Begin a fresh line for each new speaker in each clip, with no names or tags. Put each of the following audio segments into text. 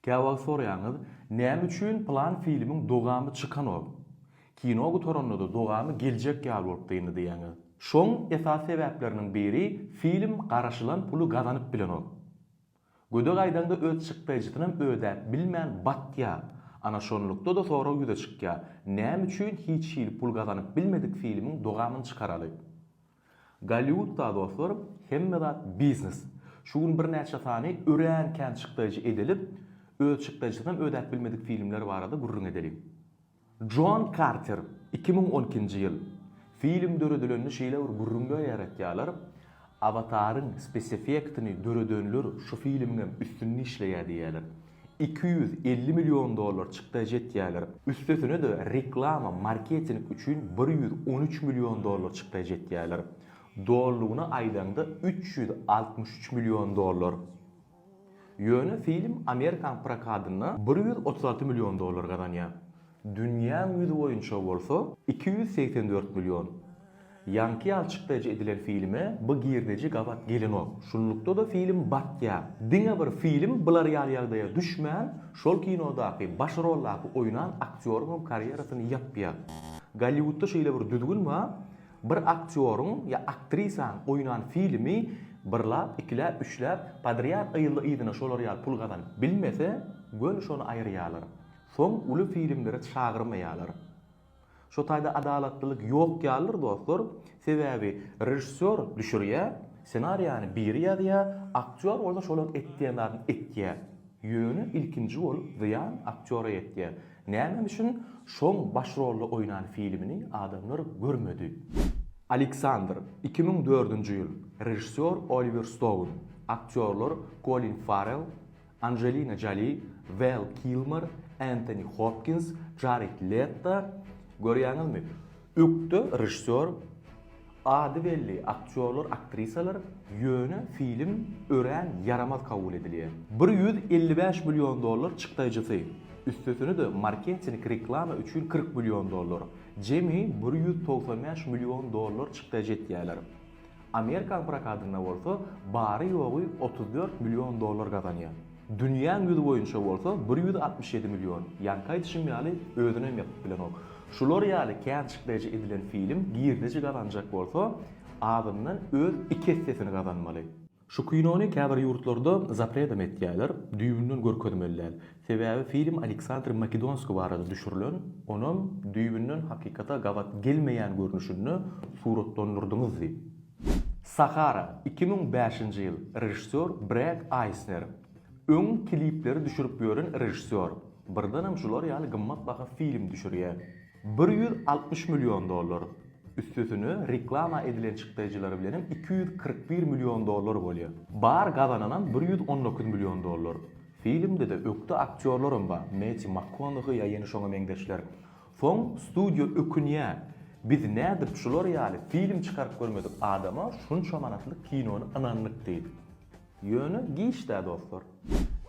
Käwagt soraýaňyz, näme üçin plan filmiň dogamy çykanok? Kino gutaranda-da dogamy geljek ýaly bolup dyndy diýýäňiz. Şoň esasy sebäpleriniň biri film garaşylan puly gazanyp bilenok. Gödek aýdaňda öz çykdaýjysynam ödäp bilmän batýa. Ana şonlukda-da sorag ýüze çykýa, näme üçin hiç hili pul gazanyp bilmedik filmiň dogamyny çykaraly? Golliwudda dostlar hemme zat biznes. Şu gün birnäçe sany örän kän çykdaýjy edilip, öz çykdaýjysynam ödäp bilmedik filmler barada gürrüň edeliň. Jon Karter, iki müň on ikinji ýyl. Film döredilende şeýle bir gürrüňler ýaratýarlar, Awataryň speseffektini döredenler şu filmiňem üstünde işleýär diýýärler. iki ýüz elli million dollar çykda ejetýärler. Üstesine-de reklama, marketing üçin bir ýüz on üç million dollar çykda ejetýärler. Dolulygyna aýdaňda üç ýüz altmyş üç million dollar. Ýöne film amerikan prokatynda bir ýüz otuz alty million dollar gazanýar. Dünýäň ýüzi boýunça bolsa iki ýüz segsen dört million. Ýaňky ýaly çykdaýjy edilen filme bu girdeji gabat gelenok. Şunlukda-da film batýar. Diňe bir film bular ýaly ýagdaýa düşmän, şol kinodaky baş roldaky oýnan aktýoryňam karýerasyny ýapýar. Golliwudda şeýle bir düzgün bar, bir aktýoryň ýa aktrisaň oýnan filmi bir lap, iki läp, üç läp podrýad yzly-yzyna şolar ýaly pul gazanyp bilmese, göni şony aýyrýarlar. Soň uly filmlere çagyrmaýarlar. Şu taýda adalatlylyk ýok ýalydyr dostlar, sebäbi režissýor düşürýär, ssenariýany biri ýazýar, aktýor bolsa şolaň etýän zadyny etýär. Ýöne ilkinji bolup zyýan aktýora ýetýär. Näme üçin şoň baş rolda oýnan filmini adamlar görmedi? Aleksandr, iki müň dördünji ýyl, režissýor Oliwer Stoun, aktýorlar Kolin Farrell, Anjelina Joli, Vel Kilmer, Entoni Hopkins, Jared Leto, görýäňizmi, ökde režissýor, ady belli aktýorlar, aktrisalar, ýöne film örän ýaramaz kabul edilýär. Bir ýüz elli bäş million dollar çykdaýjysy, üstesine-de marketing, reklama üçin kyrk million dollar, jemi bir ýüz togsan bäş million dollar çykdaýjy etýärler. Amerikan prokatynda bolsa bary-ýogy otuz dört million dollar gazanýar. Dünýäň ýüzi boýunça bolsa bir ýüz altmyş ýedi million. Ýaňky aýdyşym ýaly, özünem ýapyp bilenok. Şular ýaly känçikleýji edilen film girdeji gazanjak bolsa, azyndan öz iki essesini gazanmaly. Şu kinony käbir ýurtlarda zapredem etýäler, düýbünden görkezmeli däl. Sebäbi film Aleksandr Makedonskiý barada düşürilen, onam düýbünden hakykata gabat gelmeýän görnüşinde suratlandyrdyňyz diýip. Sahara, iki müň bäşinji ýyl, režissýor Bred Aýsner. Öň klipleri düşürip ýören režissýor, birdenem şular ýaly gymmatbaha film düşürýär. Bir ýüz altmyş million dollar. Üstesine reklama edilen çykdaýjylary bilen hem iki ýüz kyrk bir million dollar bolýar. Bar gazananam bir ýüz on dokuz million dollar. Filmde-de ökde aktýorlaram bar, Metti Makkonahy ýa ýene şoňa meňzeşler. Soň studiýa ökünýä, biz nädip şular ýaly film çykaryp görmedik adama şunça manatlyk kinony ynandyk diýip. Ýöne giç-dä dostlar.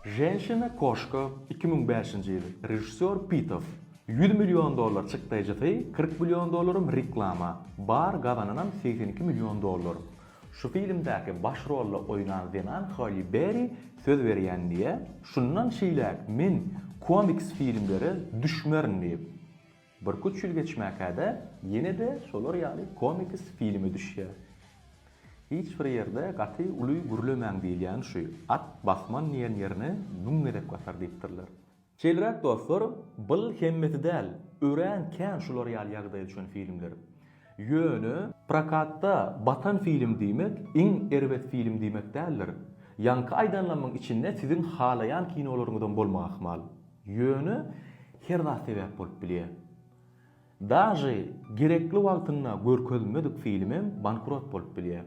Ženşina koşka iki müň bäşinji ýyl režissýor Pitow ýüz million dollar çykdaýjysy kyrk million dollaram reklama bar gazananam segsen iki million dollar şu filmdäki baş rolda oýnan zenan Holi Berri söz berýän diýä şundan şeýläk men komiks filmlere düşmerin diýip Birküç ýyl geçmäkä-de, ýene-de şolar ýaly komiks filme düşýär. Hiç bir ýerde gaty uly gürlemäň diýilýän şu, at basman diýen ýerine müň gezek basar diýipdirler. Şeýleräk dostlar, bul hemmesi däl, örän kän şular ýaly ýagdaýa düşen filmler. Ýöne prokatda batan film diýmek iň erbet film diýmek däldir. Ýaňky aýdanlamyň içinde siziň halaýan kinolaryňyzam bolmak ahmal. Ýöne her zat sebäp bolup bilýär. Daže gerekli wagtynda görkezilmedik filmem bankrot bolup bilýär.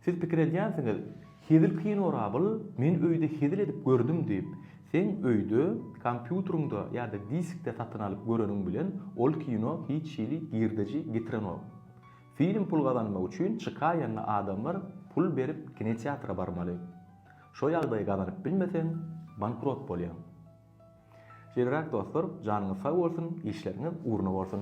Siz pikir edýänsiňiz, hezil kino Rabyl, men öýde hezil edip gördüm diýip. Seň öýde, kompýuteriňde ýa-da diskde satyn alyp göreniň bilen ol kino hiç hili girdeji getirenok. Film pul gazanmak üçin çykaýanda adamlar pul berip kinoteatra barmaly. Şo ýagdaýy gazanyp bilmeseň, bankrot bolýaň. Şeýleräk dostlar, janyňyz sag bolsun, işleriňiz ugruna bolsun!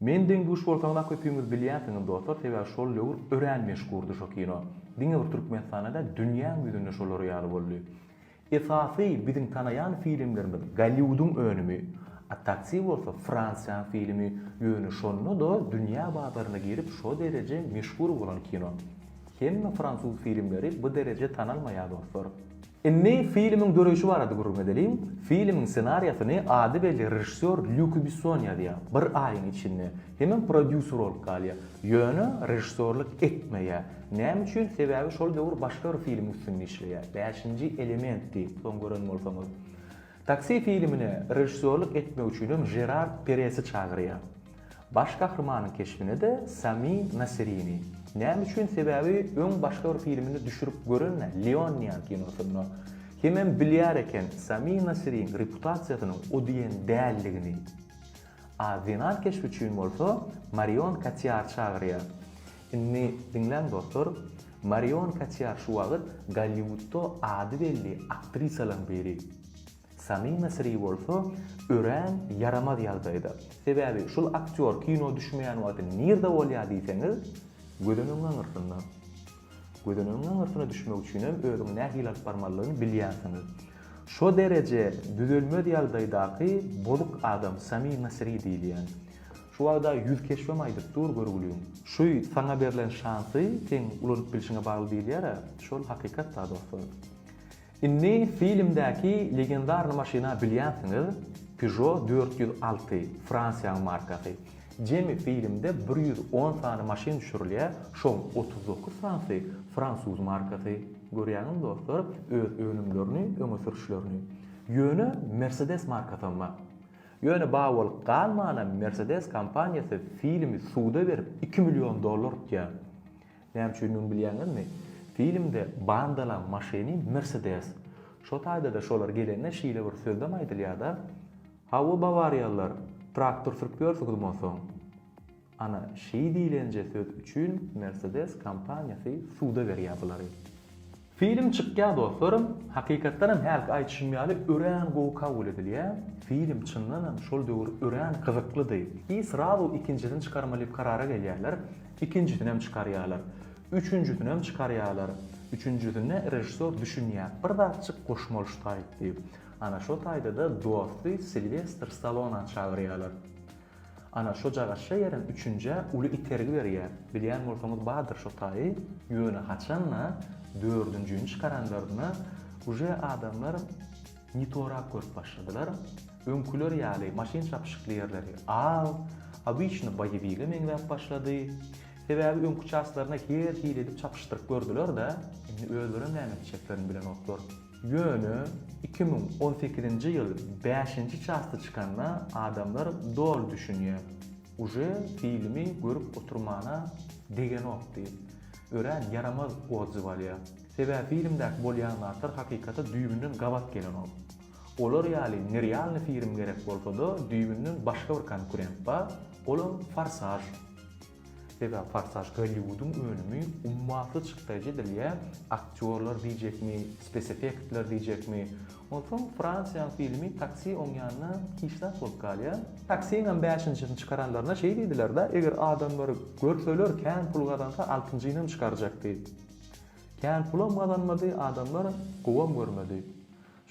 Men deň duş bolsaňyzam köpüňiz bilýänsiňiz dostlar sebäbi şol döwür örän meşhurdy şo kino. Diňe bir Türkmenistanda däl dünýäň ýüzünde şolar ýaly boldy. Esasy biziň tanaýan filmlerimiz Golliwudyň önümi, a Taksi bolsa Fransiýaň filmi, ýöne şonda-da dünýä bazaryna girip şo dereje meşhur bolan kino. Hemme fransuz filmleri bu dereje tanalmaýar dostlar. Indi filmiň döreýşi barada gürrüň edeliň. Filmiň ssenariýasyny ady belli režissýor Lýuk Besson ýazýar. Bir aýyň içinde hemem prodýuser bolup galýar. Ýöne režissýorlyk etmeýär. Näme üçin? Sebäbi şol döwür başga bir filmiň üstünde işleýär. Bäşinji elementdi, soň gören bolsaňyz. Taksi filmine režissýorlyk etmek üçinem Žerar Peresi çagyrýar. Baş gahrymanyň keşbine-de Sami Nasrini. Näme üçin? Sebäbi öň başga bir filmini düşürip gören-ä, Leon diýen kinosynda. Hemem bilýär eken Sami Nasriň reputasiýasynyň o diýen däldigini. A zenan keşbi üçin bolsa Marion Kotýary çagyrýar. Indi diňläň dostlar, Marion Kotýar şu wagt Golliwudda ady belli aktrisalaryň biri. Samima Sri bolsa örän ýaramaz ýagdaýda. Sebäbi şul aktýor kino düşmeýän wagty nirde bolýar diýseňiz, gözenegiň aňyrsynda. Gözenegiň aňyrsyna düşmek üçinem özüňi nähili alyp barmalydygyny bilýänsiňiz. Şo dereje düzelmez ýagdaýdaky bozuk adam Samima Sri diýilýän. Şu wagda ýüz keşbem aýdyp dur görgüliň. Şu saňa berlen şansy seň ulanyp bilşiňe bagly diýilýär-ä, şol hakykat-da dostlar. Indi filmdäki legendarny maşyna bilýänsiňiz, Peugeot dört ýüz alty, Fransiýanyň markasy. Jemi filmde bir ýüz on sany maşyn düşürilýär, şoň otuz dokuz sanysy fransuz markasy. Görýäňizmi dostlar, öz önümlerini öňe sürüşlerini. Ýöne Mersedes markasam bar. Ýöne bar bolup galmanam Mersedes kompaniýasy filmi suda berip iki million dollar utýar. Näme üçindigini bilýäňizmi? Filmde bandalaň maşyny Mersedes. Şo taýda-da şolar gelende şeýle bir sözlem aýdylýar-da, Hawa, bawariýalylar, traktor sürüp ýörsüňizmi onsoň? Ana, şeý diýlenje söz üçin Mersedes kompaniýasy suda berýär bulary. Film çykýa dostlarym, hakykatdanam hälki aýdyşym ýaly örän gowy kabul edilýä, film çyndanam şol döwür örän gyzyklydy, i srazu ikinjisini çykarmalydip karara gelýärler, ikinjisinem çykarýalar, üçünjisinem çykarýalar, üçünjisinde režissor düşünýä bir zatjyk goşmalyştaýyp diýip, ana şo taýdada dosty Silwestr Stallona çagyrýalar. Ana, şo jagaşja ýerem üçünjä uly itergi berýär. Bilýän bolsaňyz bardyr şo taýy. Ýöne haçan-da, dördünjini çykaranlarynda uje adamlar ne torak görüp başladylar. Öňküler ýaly maşyn çapyşykly ýerleri az, obyçny boýewige meňzäp başlady. Sebäbi öňki çaslaryna her hili edip çapyşdyryp gördüler-de, indi özlerem näme etjeklerini bilenoklar. Ýöne iki müň on sekizinji ýyl bäşinji çasty çykanda adamlar doly düşünýär. Uje filmi görüp oturmana degenok diýip, örän ýaramaz odzyw alýa. Sebäbi filmdäki bolýan zatlar hakykata düýbünden gabat gelenok. Olar ýaly nerýalny firim gerek bolsada düýbünden başga bir konkurent bar, olam Forsaž. Sebäbi Forsaj Golliwudyň önümi ummasyz çykdaýjy edilýär, aktýorlar diýjekmi, speseffektler diýjekmi. Onsoň Fransiýanyň filmi Taksi oňýanynda hiç zat bolup galýar. Taksiňem bäşinjisini çykaranlaryna şeý diýdiler-de, eger adamlar görseler kän pul gazansa altynjynyam çykarjak diýip. Kän pulam gazanmady, adamlar gowam görmedi.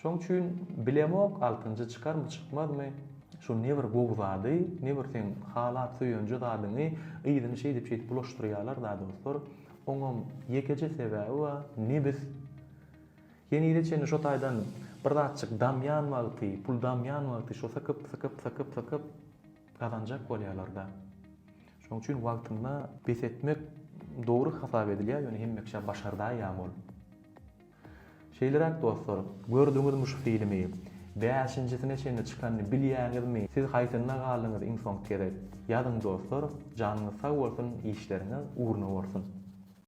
Şoň üçin bilemok altynjy çykarmy çykmazmy şu ne bir gowy zady ne bir seň halap söýenje zadyňy yzyny şeýdip şeýdip bulaşdyrýalar da dostlar oňam ýekeje sebäbi bar nebis henize çenli şo taýdan bir zatjyk damýan wagty pul damýan wagty şo sykyp sykyp sykyp sykyp gazanjak bolýalarda şoň üçin wagtynda bes etmek dogry hasap edilýär ýöne hemme kişä başardaýýamy ol Şeýleräk dostlar, gördüňizmi şu filmi? Bäşinjisine çenli çykanyny bilýäňizmi? Siz haýsynda galdyňyz iň soňky gezek? Ýazyň dostlar, janyňyz sag bolsun, işleriňiz ugruna bolsun!